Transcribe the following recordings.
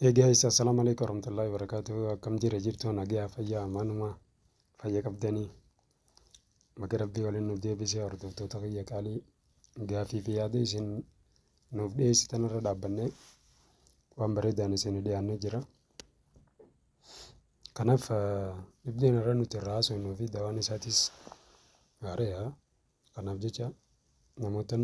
Hey guys, assalamu alaikum warahmatullahi wabarakatuh. Akkam jira jirtu nagaa fayyaa manuma fayya qabdanii baga rabbii waliin nu deebisee hordoftoota fayya qaalii gaafii fi yaada isin nuuf dhiyeessitan irra dhaabbannee waan bareedaan isin dhiyaannee jira. Kanaaf dhibdeen irra nuti irraa haasofnuu fi dawaan isaatis gaariidha. Kanaaf jecha namootan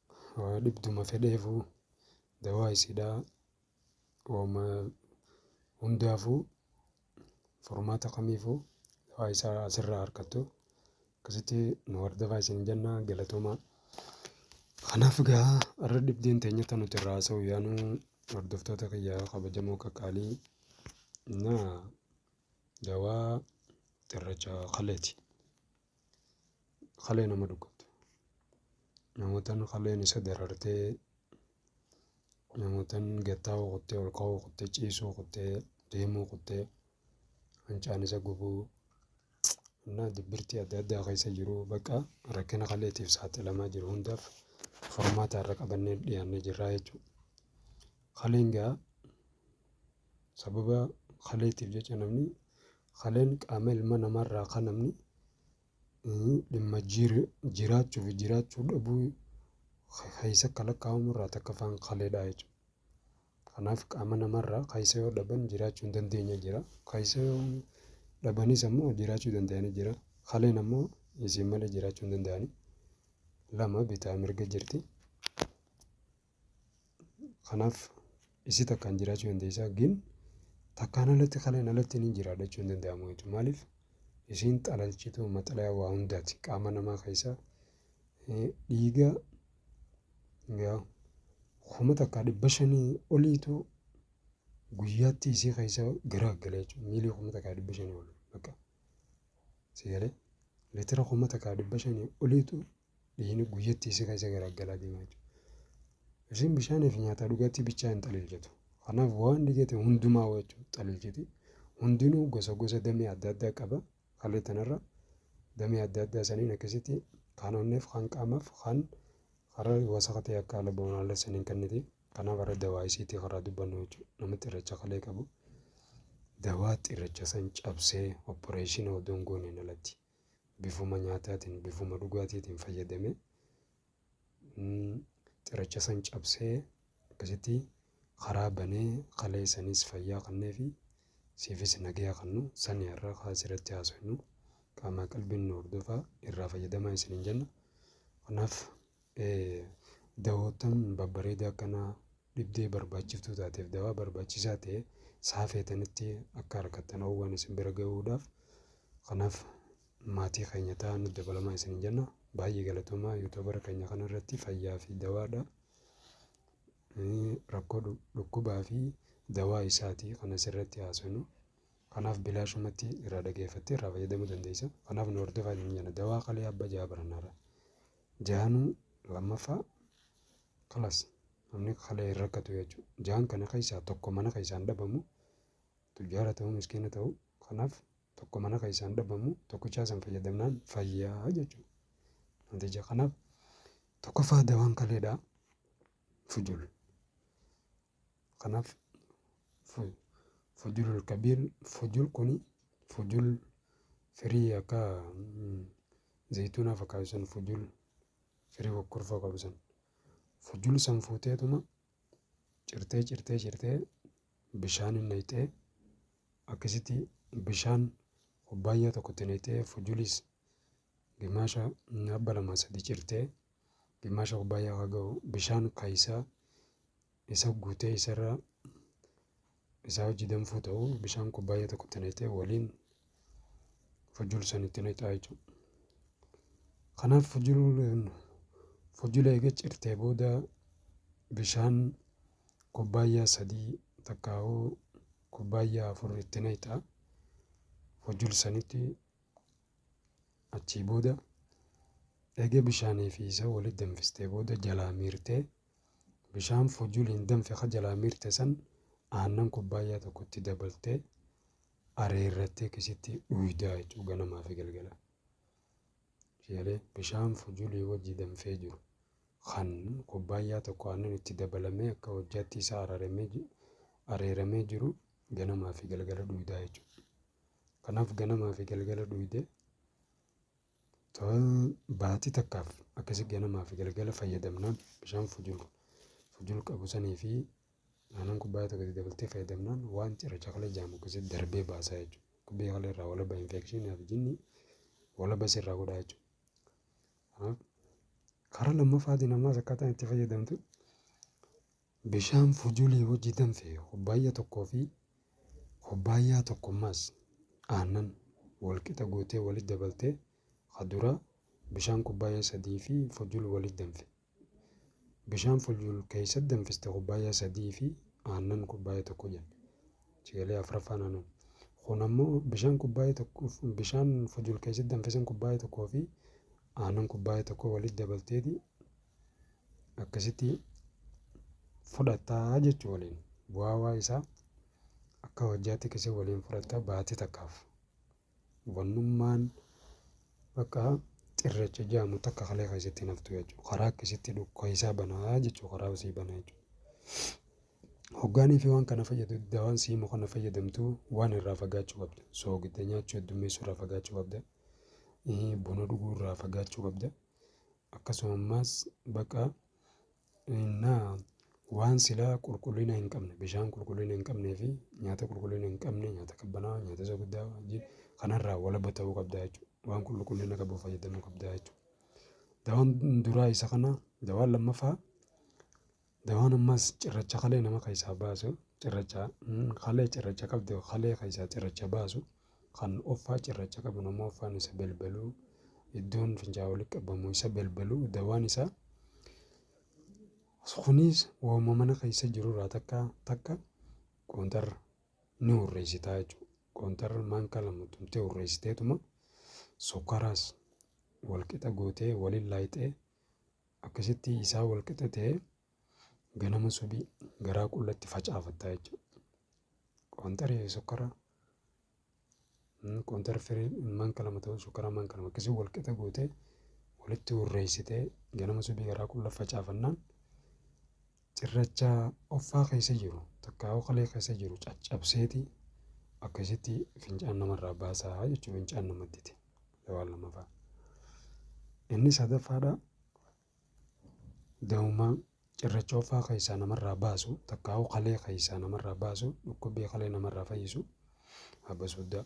Waa dhibduma fedheefuu dawaa isidhaa wama hundaafuu furmaata kamiifuu dawaa isaa asirraa argattu akkasitti nu hordofaa isin jenna galatomaa. Kanaaf egaa har'a dhibdeen teenya tan nuti irraa haasa'u yaanu hordoftoota kiyya kabajamoo qaqqaalii na dawaa xirracha kaleeti. kalee nama dhukkubte namootan kaleen isa darartee namootan gattaa'uu kuttee ol ka'uu kuttee ciisuu kuttee deemuu kuttee hancaan isa gubuu na dibbirtii adda addaa keessa jiru bakka rakkina kaleetiif saaxilamaa jiru hundaaf furmaata irra qabannee dhiyaannee jirraa jechuudha. Kaleen gaa Sababa kaleetiif jecha namni kaleen qaama ilma namaarraa kan namni dhimma jiraachuu fi jiraachuu dhabuu keessa akka lakkaa'amu irraa takka afaan kaleedha jechuudha. Kanaaf qaama namaarraa keessa yoo dhaban jiraachuu hin dandeenye jira. Keessa yoo dhabanis ammoo jiraachuu danda'anii jira. Kaleen ammoo isiin malee jiraachuu hin danda'anii. Lama bitaa mirga jirti. Kanaaf isii takkaan jiraachuu dandeessa gin takkaan alatti kaleen alatti ni jiraadha jechuun hin danda'amu jechuudha. Maaliif isiin xalalchituu maxalaya waa hundaati qaama namaa keessaa dhiiga kuma takkaa dhibba shanii oliitu guyyaatti isii keessa garaa gala jechuudha. Miilii kuma takkaa dhibba shanii ol bakka si galee litira kuma takkaa dhibba shanii oliitu dhiigni guyyatti isa keessa garaggalaa deema jechuudha. Isiin bishaanii fi nyaataa dhugaatii bichaa hin xaliilchitu. Kanaaf waan dhigate hundumaa jechuudha xaliilchiti. Hundinuu gosa gosa damee adda addaa qaba. Haalli tanarra damee adda addaa saniin akkasitti kan onneef kan qaamaaf kan karaa wasaqa ta'e akka ala ba'uun haala saniin kenniti. Kanaaf irra dawaa isiitii karaa dubbannu jechuudha. Namni xirracha kalee qabu dawaa xirracha san cabsee opporeeshinii odoon gooneen alatti bifuma nyaataatiin, bifuma dhugaatiitiin fayyadame. Xiracha san cabsee akkasitti karaa banee kalee sanis fayyaa kannee fi siifis nagaya kannu sani har'a kaa asirratti haasofnu qaamaa qalbiin nu hordofaa irraa fayyadamaa isiniin jenna. Kanaaf Ee, dawoottan babbareeda akkanaa dhibdee barbaachiftuu taateef dawaa barbaachisaa ta'e saa feetanitti akka argattan hawwan isin bira ga'uudhaaf kanaaf maatii keenya ta'aa nu dabalamaa isin jenna baay'ee galatoomaa yuutuubara keenya kana irratti fayyaa fi dawaadha rakkoo dhukkubaa fi dawaa isaati kan asirratti haasofnu kanaaf bilaashumatti irraa dhageeffattee irraa fayyadamuu dandeessa kanaaf nu hordofaa isin jenna dawaa kalee abba jaa barannaarra Jaanu lammaffaa kalas namni kalee hin rakkatu jechuudha. Jaan kana keessaa tokko mana keessaan dhabamu tujjaara ta'uu miskiina ta'uu kanaaf tokko mana keessaan dhabamu tokkichaa san fayyadamnaan fayyaa jechuudha. Namticha kanaaf tokkoffaa dawaan kaleedhaa fujul. Kanaaf fujulul kabiir fujul kuni fujul firii akka zayituunaa fakkaatu san fujul firii kokkorfoo qabu san fujul san fuuteetuma cirtee cirtee cirtee bishaan hin nayxee akkasitti bishaan kubbaayyaa tokkotti nayxee fujulis gimaasha abba lamaa sadi cirtee gimaasha kubbaayyaa haa ga'u bishaan kaayisaa isa guutee isarra isaa hojii danfuu ta'u bishaan kubbaayyaa tokkotti naqxee waliin fujul sanitti naqxaa jechuudha. Kanaaf fujul fujula eega cirtee booda bishaan kubbaayyaa sadii takkaahuu kubbaayyaa afur itti naqxaa fujul sanitti achii booda eega bishaanii fi isa walitti danfistee booda jalaa miirtee Bishaan fujuliin danfe ka jalaa miirte san aannan kubbaayyaa tokko itti dabaltee areerrattee kisitti dhuydaa jechuudha ganamaa fi galgala. Ishee bishaan fujulii wajji danfee jiru kan kubbaayyaa tokko aannan itti dabalamee akka hojjaatti isaa araramee ji- areeramee jiru ganamaa fi galgala dhuydaa jechuudha. Kanaaf ganamaa fi galgala dhuydee Tola, baatii takkaaf akkasi ganamaa fi galgala fayyadamnaan bishaan fujul fujul qabu sanii fi aanan kubbaaya tokko itti dabaltee fayyadamnaan waan cirracha kalee jaamu akkasitti darbee baasaa jechuudha. Dhukkubbii kalee irraa walaba infekshinii fi jinni walaba sirraa godhaa jechuudha. Kanaaf karaa lammaffaatiin ammaas akkaataan itti fayyadamtu Bishaan fujulii wajji danfe kubbaayya tokkoo fi kubbaayyaa tokko maas aannan wal qixa gootee walit dabaltee ka duraa bishaan kubbaayyaa sadii fi fujul walit danfe. Bishaan fujul keeysat danfiste kubbaayyaa sadii fi aannan kubbaayya tokko jenne. Achi galee afraffaan anu. Kun ammoo bishaan kubbaayya tokko bishaan fujul keeysat danfe san kubbaayya tokkoo fi aannan kubbaayya tokko walit dabalteeti akkasitti fudhattaa jechuu waliin bu'aawaa isaa akka hojjaatti kisi waliin fudhatta baati takkaaf wannummaan bakka xirrecha jaamu takka kalee keessatti naftu jechuu karaa akkasitti dhukkaisaa banaa jechuu karaa usii banaa jechuu hoggaanii fi waan kana fayyadu dawaan siimu kana fayyadamtu waan irraa fagaachuu qabda soogidda nyaachuu heddummeessuu irraa fagaachuu qabda buna dhuguu irraa fagaachuu qabda akkasuma ammaas baqa innaa waan silaa qulqullina hin qabne bishaan qulqullina hin qabnee fi nyaata qulqullina hin qabne nyaata qabbanaa nyaata isa guddaa wajjin kanarraa walaba ta'uu qabda jechuudha waan qulqullina qabu fayyadamuu qabda jechuudha. Dawaan duraa isa kana dawaan lammaffaa Dawaan ammas cirracha kalee nama keessaa baasu, cirracha kalee cirracha qabdu kalee keessaa cirracha baasu, kan offaa cirracha qabu nama offaan isa belbelu, iddoon fincaa walitti qabamu isa belbelu dawaan isaa kunis waanuma mana keessa jirurraa takka takka qoonxar ni hurreessitaa jechuudha. Qoonxar maanka lama tumtee hurreessiteetuma sukkaraas walqixa gootee waliin laayixee Akkasitti isaa wal qixa ta'ee ganama subii garaa qullatti facaafattaa jechuudha. Qoontara sukkara qoontara firii manka lama ta'u sukkara manka lama akkasii wal qixa gootee walitti hurreessitee ganama subii garaa qulla facaafannaan Cirracha offaa keessa jiru takkaa'uu kalee keessa jiru caccabseeti akkasitti fincaan namarraa baasaa jechuun fincaan namattiti. Lawaan lammaffaa. Inni sadaffaadha da'ummaa cirracha offaa keessaa namarraa baasu takkaa'uu kalee keessaa namarraa baasu dhukkubbii kalee namarraa fayyisu abba suddaa.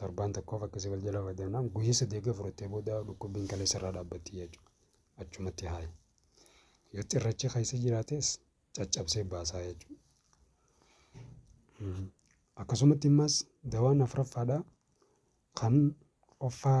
Torbaan tokkoof akkasii wal jala fayyadamnaan guyya sadii egaa fudhattee booda dhukkubbiin kaleessa irraa dhaabbatti jechuudha. Achumatti haayi. Yoo cirrachi keessa jiraates caccabsee baasaa jechuudha. Akkasumatti immas dawaan afraffaadha kan offaa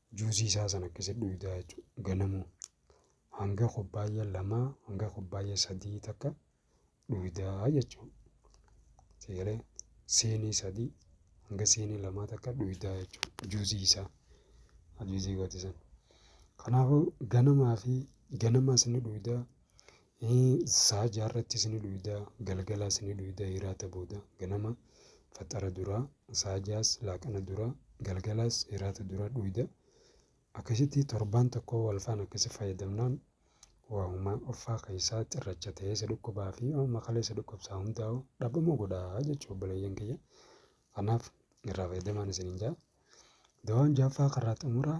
Juusii isaa sana akkasitti dhuydaa jechuudha. Ganamuu hanga kubbaayya lamaa hanga kubbaayya sadii takka dhuydaa jechuudha. Seegalee siinii sadii hanga siinii lamaa takka dhuydaa jechuudha. Juusii isaa juusii gooti sana. Kanaafuu ganamaa fi ganama isin dhuydaa Hii sa'a jaarrattis ni dhuyda, galgalaas ni dhuyda hiraata booda, ganama faxara dura, sa'a ja'as laaqana dura, galgalaas hiraata dura dhuyda. Akkasitti torbaan tokko walfaan akkasi fayyadamnaan waahuma offaa keessaa xirracha ta'ee isa dhukkubaa fi amma kalee isa dhukkubsaa hundaa'u dhabamuu godhaa jechuu obboleeyyan kiyya. Kanaaf irraa fayyadamaan isiniin ja'a. Dawaan jaaffaa karraa xumuraa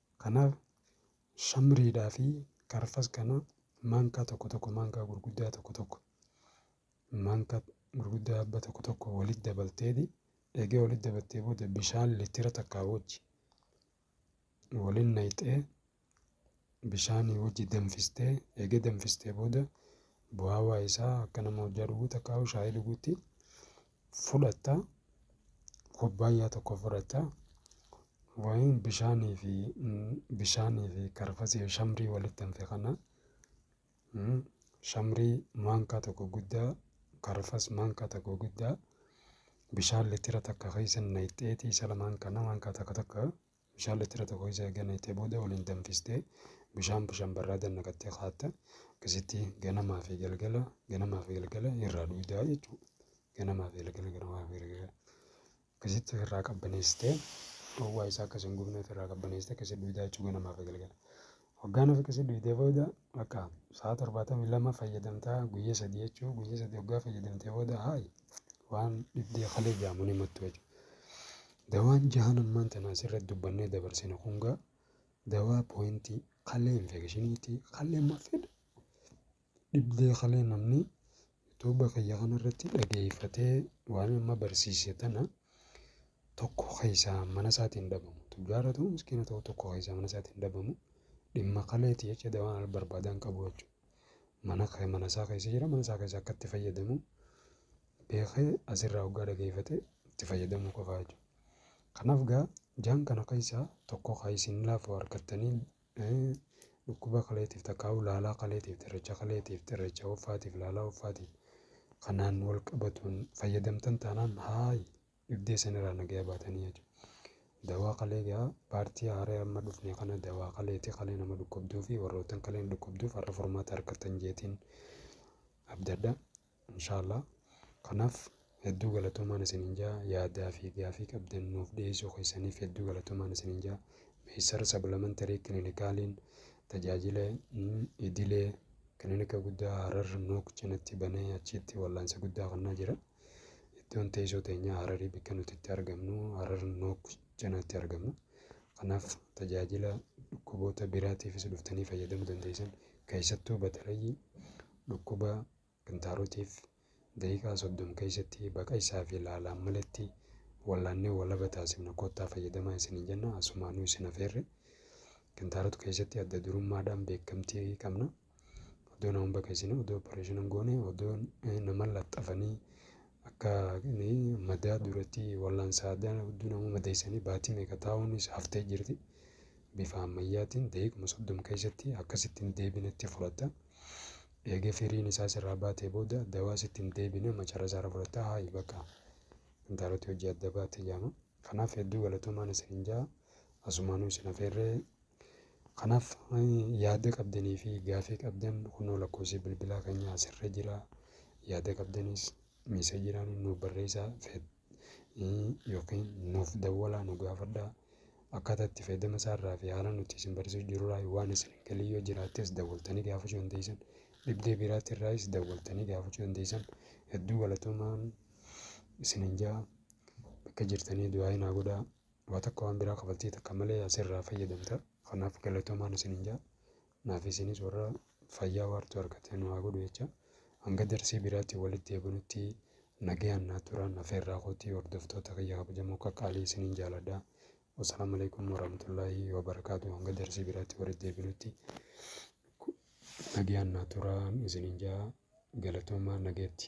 Kanaaf shamriidhaa fi karfas kana maankaa tokko tokko maankaa gurguddaa tokko tokko maankaa gurguddaa abba tokko tokko walitti dabalteeti eegee walitti dabaltee booda bishaan litira takkaa wajji waliin nayxee bishaanii wajji danfistee eegee danfistee booda bu'aawaa isaa akka nama hojjaa dhuguu takkaa shaayii dhuguutti fudhatta, kubbaayyaa tokko fudhatta, wayiin bishaanii fi bishaanii fi karfasii shamrii walitti hanfe kana shamrii maankaa tokko guddaa karfas maankaa tokko guddaa bishaan litira takka keessa nayxeetii isa lamaan kana maankaa takka takka Bishaan litira tokko keessa erga naqxee booda waliin danfistee bishaan bishaan barraadan naqattee kaatta. Akkasitti ganamaa fi galgala ganamaa fi galgala irraa dhugdaa jechuudha. Ganamaa fi galgala ganamaa fi galgala. Akkasitti irraa qabbaneessitee dhowwaa isaa akkasiin gubneet irraa qabbaneessitee akkasitti dhugdaa jechuudha ganamaa fi galgala. Waggaa nuuf qisi duydee booda bakka sa'a torbaatamii lama fayyadamtaa guyya sadii jechuu guyya sadii waggaa fayyadamtee booda haayi waan dhibdee kalee jaamu ni mattu jechu. Dawaan jahan ammaan tana asirratti dubbannee dabarsine kungaa dawaa pooyintii kalee infeekishiniitii kalee mafeedha. Dhibdee kalee namni yutuba kiyya kana irratti dhageeyfatee waan amma barsiise tana tokko keeysaa mana isaati hin dhabamu. Tujjaara ta'u miskiina ta'u tokko keeysaa mana isaati hin dhabamu. Dhimma kaleeti jecha dawaan al barbaadaan qabu jechuudha. Mana kee mana isaa keeysa jira mana isaa keeysa akka itti fayyadamu beekee asirraa hoggaa dhageeyfate itti fayyadamuu qofaa jechuudha. Kanaaf gaa jaan kana keeysaa tokko kaa isin laafu argattanii Dhukkuba kaleetiif takkaa'uu laalaa kaleetiif xirracha kaleetiif xirracha hoffaatiif laalaa hoffaatiif kanaan wal qabatuun fayyadamtan taanaan haayi dhibdee sanirraa nagaya baatanii jechuudha. Dawaa kalee gaa paartii haaree amma dhufne kana dawaa kaleeti kalee nama dhukkubduu fi warroottan kaleen dhukkubduuf har'a furmaata argattan jeetiin abdadha. Inshallah kanaf hedduu galatomaan isinin jaa yaadaa fi gaafii qabdan nuuf dhiyeessuu keessanif hedduu galatomaan isinin jaa Meysar Sablamantary Clinicaliin tajaajila idilee kilinika guddaa Harar Nuuk cinatti banee achiitti wallaansa guddaa kennaa jira iddoon teessoo teenyaa Hararii bakka nuti itti argamnu Harar Nuuk cinatti argamna kanaaf tajaajila dhukkuboota biraatiifis dhuftanii fayyadamuu dandeessan keessattuu batalayyi dhukkuba Kintaarotiif daqiiqaa soddom keessatti baqa isaa fi laalaan maletti wallaannee walaba taasifna koottaa fayyadamaa isiniin jenna asumaanuu isin afeerre kintaarot keessatti adda durummaadhaan beekamtii qabna odoo namoon bakka isin odoo opereeshinan goone odoo nama laxxafanii akka madaa duratti wallaan saadaa hedduu nama madeessanii baatii meeqa taa'uunis haftee jirti bifa ammayyaatiin daqiiquma soddom keessatti akkasittiin deebinetti fudhata. Eega firiin isaa sirraa baatee booda dawaa sitti hin deebine macara isaarra fudhatta haayi bakka intaaloti hojii adda baate jedhama. Kanaaf hedduu galatoomaan isin hin ja'a. Asumaanuu isin afeerree Kanaaf yaada qabdanii fi gaafii qabdan kunoo lakkoofsi bilbilaa keenya asirra jira. Yaada qabdanis miiseejiidhaan nuuf barreessaa. yookiin nuuf dawwalaa nu gaafadhaa akkaataa itti fayyadama isaarraa fi haala nuti isin barsiisuu jirurraa waan isin galii yoo jiraattees dawwaltanii gaafachuu dandeessan dhibdee biraatti irraayis dawwaltanii gaafachuu dandeessan hedduu galatoomaan isin hin jaa bakka jirtanii du'aa hin godhaa waa takka waan biraa kafaltii takka malee asirraa fayyadamta kanaaf galatoomaan isin hin jaa Naaf isinis warra fayyaa waartuu argate nu haa godhu jecha hanga darsii biraatti walitti deebinutti nagayaan naa turaan afeerraa kootii hordoftoota kiyya kabajamoo qaqqaalii isiniin jaaladha. Wasalaamu alaikum warahmatullaahi wabarakaatu hanga darsii biraatti walitti deebinutti nagayaan naa turaan isiniin jaa galatoomaa nagayatti.